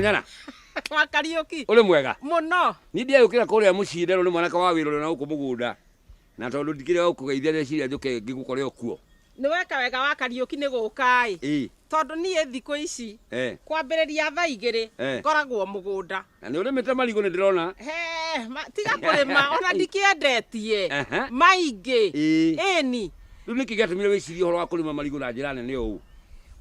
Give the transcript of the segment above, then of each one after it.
Nyana. Wa Kariũki. Ũrĩ mwega? Mũno. Niĩ ndiagĩũkĩra kũrĩa mũciĩ nderwo nĩ mwanake wa wĩra ũrĩa na gũkũ mũgũnda. Na tondũ ndikĩrĩ wa gũkũgeithia ndeciria njũke ngĩgũkore o kuo. Nĩ weka wega wa Kariũki nĩ gũka-ĩ. Ĩĩ. Tondũ niĩ thikũ ici kwambĩrĩria thaa igĩrĩ ngoragwo mũgũnda. Na nĩ ũrĩmĩte marigũ nĩ ndĩrona. Hee, tiga kũrĩma ona ndikĩendetie maingĩ. Ĩĩni. Rĩu nĩkĩ gĩatũmire wĩcirie ũhoro wa kũrĩma marigũ na njĩra nene ũũ?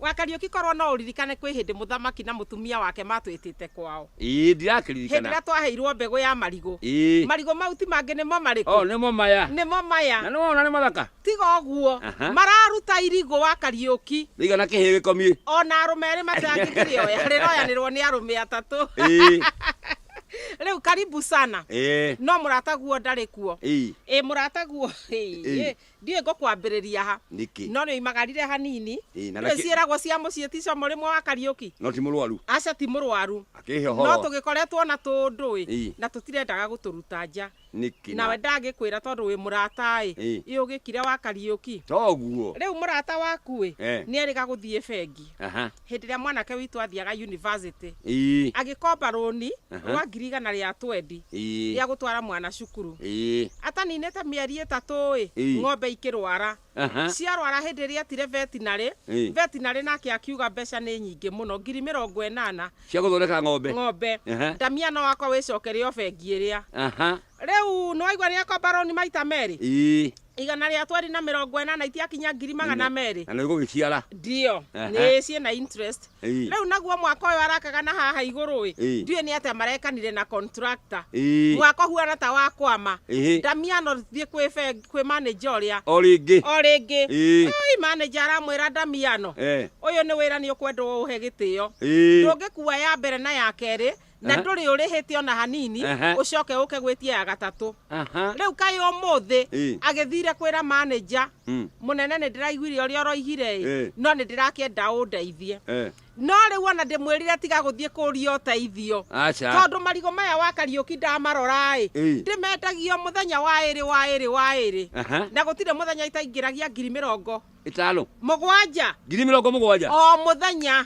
We Kariũki korwo no ũririkane kwĩ hĩndĩ mũthamaki na mũtumia wake matwĩtĩte kwao. Ĩĩ Hĩndĩ ndĩrakĩririkana. ĩrĩa twaheirwo mbegũ ya marigũ. Ĩĩ. Marigũ mau ti mangĩ nĩmo O marĩkũ? nĩmo maya. Nĩmo maya. Na nĩwona nĩ mathaka. Tiga ũguo, Aha. mararuta irigũ wa Kariũki. Rĩigana kĩhĩĩ gĩkomiĩ. O na arũme erĩ matangĩkĩrĩoya, rĩroyanĩrwo nĩ arũme atatũ. Ĩĩ. Rĩu karibu sana. Ĩĩ. No mũrataguo ndarĩ kuo. Ĩĩ. Ĩĩ mũrataguo. Ĩĩ. Ĩĩ. Ndiũĩ ngũkwambĩrĩria ha. Nĩkĩ? No nĩoimagarire hanini. Ĩ, na Ndũĩ nĩkĩ- ciĩragwo cia mũciĩ ti comũ rĩmwe wa Kariũki? No ti mũrwaru. Aca ti mũrwaru. Akĩhe ũhoro. No tũgĩkoretwo na tũndũ-ĩ, Ĩ. na tũtirendaga gũtũruta nja. Nĩkĩ na- Nawe ndangĩkwĩra tondũ wĩ mũrata-ĩ, Ĩ. ĩ ũgĩkire wa Kariũki. Toguo. Rĩu mũrata waku-ĩ, Eh. nĩerĩga gũthiĩ bengi. Aha. Hĩndĩ ĩrĩa mwanake witũ athiaga yunivasĩtĩ, Ii. agĩkomba rũni Aha. rwa ngiri igana rĩa twendi Ii. rĩa gũtwara mwana cukuru. Ii. Ataninĩte mĩeri ĩtatũ-ĩ, Ii. ng'ombe ikĩrwara. Aha. Ciarwara hĩndĩ ĩrĩa etire vetinarĩ, Ii. vetinarĩ nake akiuga mbeca nĩ nyingĩ mũno, ngiri mĩrongo ĩnana Cia gũthondeka ng'ombe. ng'ombe. Aha. Ndamia no wakwa wĩcokere o bengi ĩrĩa. Aha. Rĩu nĩwaigua nĩekwa mbaroni maita merĩ Ii, igana rĩa tweri na mĩrongo ĩnana itiakinya ngiri magana merĩ na nĩ gũgĩciara. ndio Ehe. nĩ ciĩ na interest Ii. rĩu naguo mwaka ũyũ arakaga na haha igũrũ ĩ Ii. ndiũĩ nĩ atĩa marekanire na contractor Ii. mwaka ũhuana ta wa kwama Ĩhĩ. ndamiano thiĩ kwĩ bengi- kwĩ manager ũrĩa O rĩngĩ. o rĩngĩ Ii. Ai, manager aramwĩra ndamiano Eh. ũyũ nĩ wĩra nĩ ũkwendwo ũhe gĩtĩo Ii. ndũngĩkua ya mbere na ya kerĩ na Aha. ndũrĩ ũrĩhĩte ona hanini Aha. ũcoke ũke gwĩtie ya gatatũ Aha. rĩu kaĩ ũmũthĩ Ĩ. agĩthire kwĩra manager Mm. mũnene nĩ ndĩraiguire ũrĩa ũroigire Ĩ. ĩ no nĩ ndĩrakĩenda ũndeithie Eh. no rĩu ona ndĩmwĩrire tiga gũthiĩ kũria ũteithio Aca. tondũ marigũ maya wa kariũki ndamarora-ĩ Ĩ. ndĩmendagio mũthenya wa ĩrĩ wa ĩrĩ wa ĩrĩ Aha. na gũtirĩ mũthenya itaingĩragia ngiri mĩrongo Ĩtano. mũgwanja Ngiri mĩrongo mũgwanja. o mũthenya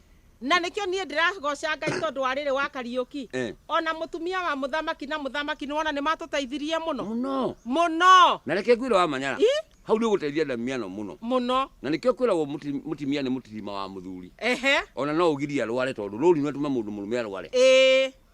Na nĩkĩo niĩ ndĩragooca Ngai tondũ wa rĩrĩ wa Kariũki. Eh. O na mũtumia wa mũthamaki na mũthamaki nĩwona nĩmatũteithirie mũno. Mũno. Mũno. Na reke ngwĩre wa Manyara. I. Hau nĩ ũgũteithia Ndamiano mũno. Mũno. Na nĩkĩo kwĩragwo mũti- mũtimia nĩ mũtirima wa mũthuri. Ehe. O na no ũgirie arware tondũ rũũri nũatuma mũndũ mũrũme arware. Ĩĩ.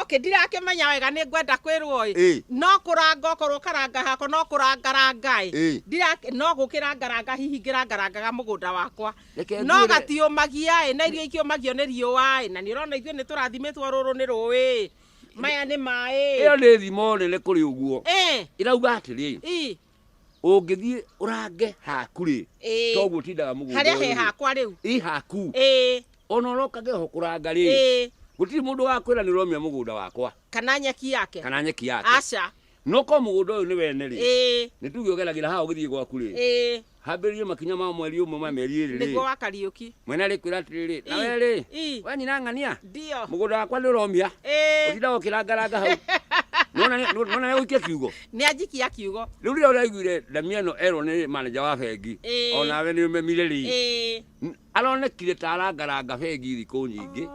okay ndirakĩmenya wega nĩ ngwenda kwĩrwo ĩ no kũranga okorwo karanga hakwa no kũrangaranga ĩ no gũkĩrangaranga hihi ngĩrangarangaga mũgũnda wakwa no gatiũmagia ĩ na irio ikĩũmagio nĩ riũa ĩ na nĩ ũrona ithuĩ nĩ tũrathimĩtwo rũrũ nĩ rũĩ ĩ maya nĩ maĩ ĩyo nĩ thimo nene kũrĩ ũguo ĩrauga atĩrĩ ũngĩthiĩ ũrange haku rĩ Ĩĩ. toguo tindaga mũgũnda harĩa ũyũ he rĩ. hakwa rĩu ĩ haku ĩĩ ona ũrokage ho kũranga rĩ ĩĩ gũtirĩ mũndũ wakwĩra nĩ ũromia mũgũnda wakwa kana nyeki yake kana nyeki yake aca no ko mũgũnda ũyũ nĩ wene rĩ ĩĩ nĩ tuge ũgeragĩra haha ũgĩthiĩ gwaku rĩ ĩĩ hambĩrĩrie makinya ma mweri ũmwe ma mĩeri ĩrĩ nĩguo rĩ wa kariũki mwene arĩkwĩra atĩrĩrĩ Ii, nawe rĩ ii. we nyina ng'ania ndio mũgũnda wakwa nĩ ũromia ĩĩ ũtindaga ũkĩrangaranga hau nona nĩ ũgũikia kiugo Nĩanjikia kiugo. Rĩu rĩrĩa ũraiguire ndamia ĩno erwo nĩ manager wa bengi, Ĩĩ. o nawe nĩ ũmemire rĩ, Ĩĩ. n- aronekire ta arangaranga bengi thikũ nyingĩ.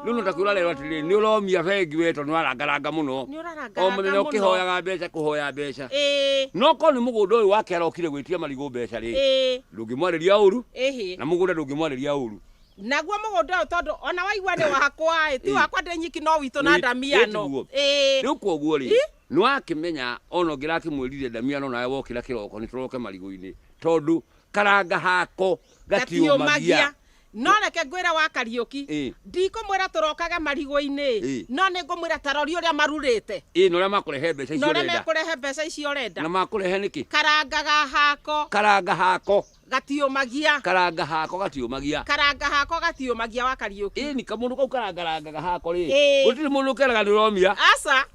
Rĩu no takwĩra arerwo atĩrĩrĩ, nĩ ũromia bengi we tondũ nĩwarangaranga mũno. Nĩ ũrarangaranga O mũthenya mũno. ũkĩhoyaga mbeca kũhoya mbeca. Ĩĩ. No korwo nĩ mũgũnda ũyũ wake arokire gwĩtia marigũ mbeca rĩ, Ĩĩ. ndũngĩmwarĩria ũru Ĩhĩ. na mũgũnda ndũngĩmwarĩria ũru. Naguo mũgũnda ũyũ tondũ ona waigua nĩ wakwa ĩ, ti Ĩĩ. wakwa ndĩ nyiki no witũ na Wĩ- ndamia ĩĩ no. tiguo. Ĩĩ. Rĩu koguo rĩ, Ĩ? Nĩwakĩmenya o na ũngĩrakĩmwĩrire ndamiano nawe wokĩra kĩroko nĩtũroke marigũinĩ tondũ karanga hako gatiũmagia. No reke ngwĩre wa Kariũki, ndikũmwĩra tũrokage marigũinĩ, no nĩngũmwĩra ta rori ũrĩa marurĩte. Ĩĩ na ũrĩa makũrehe mbeca icio ũrenda. Na ũrĩa mekũrehe mbeca icio ũrenda. Na makũrehe nĩkĩ? Karanga ga hako. Karanga hako. Gatiũmagia. Karanga hako gatiũmagia. Karanga hako gatiũmagia wa Kariũki. Ĩni kamũndũ kau karangarangaga hako rĩ. Ĩĩ. Gũtirĩ mũndũ keraga nĩ ũromia. Aca.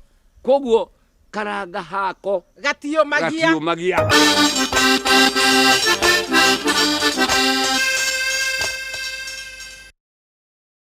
Koguo karanga hako. Gatiũmagia. Gatiũmagia.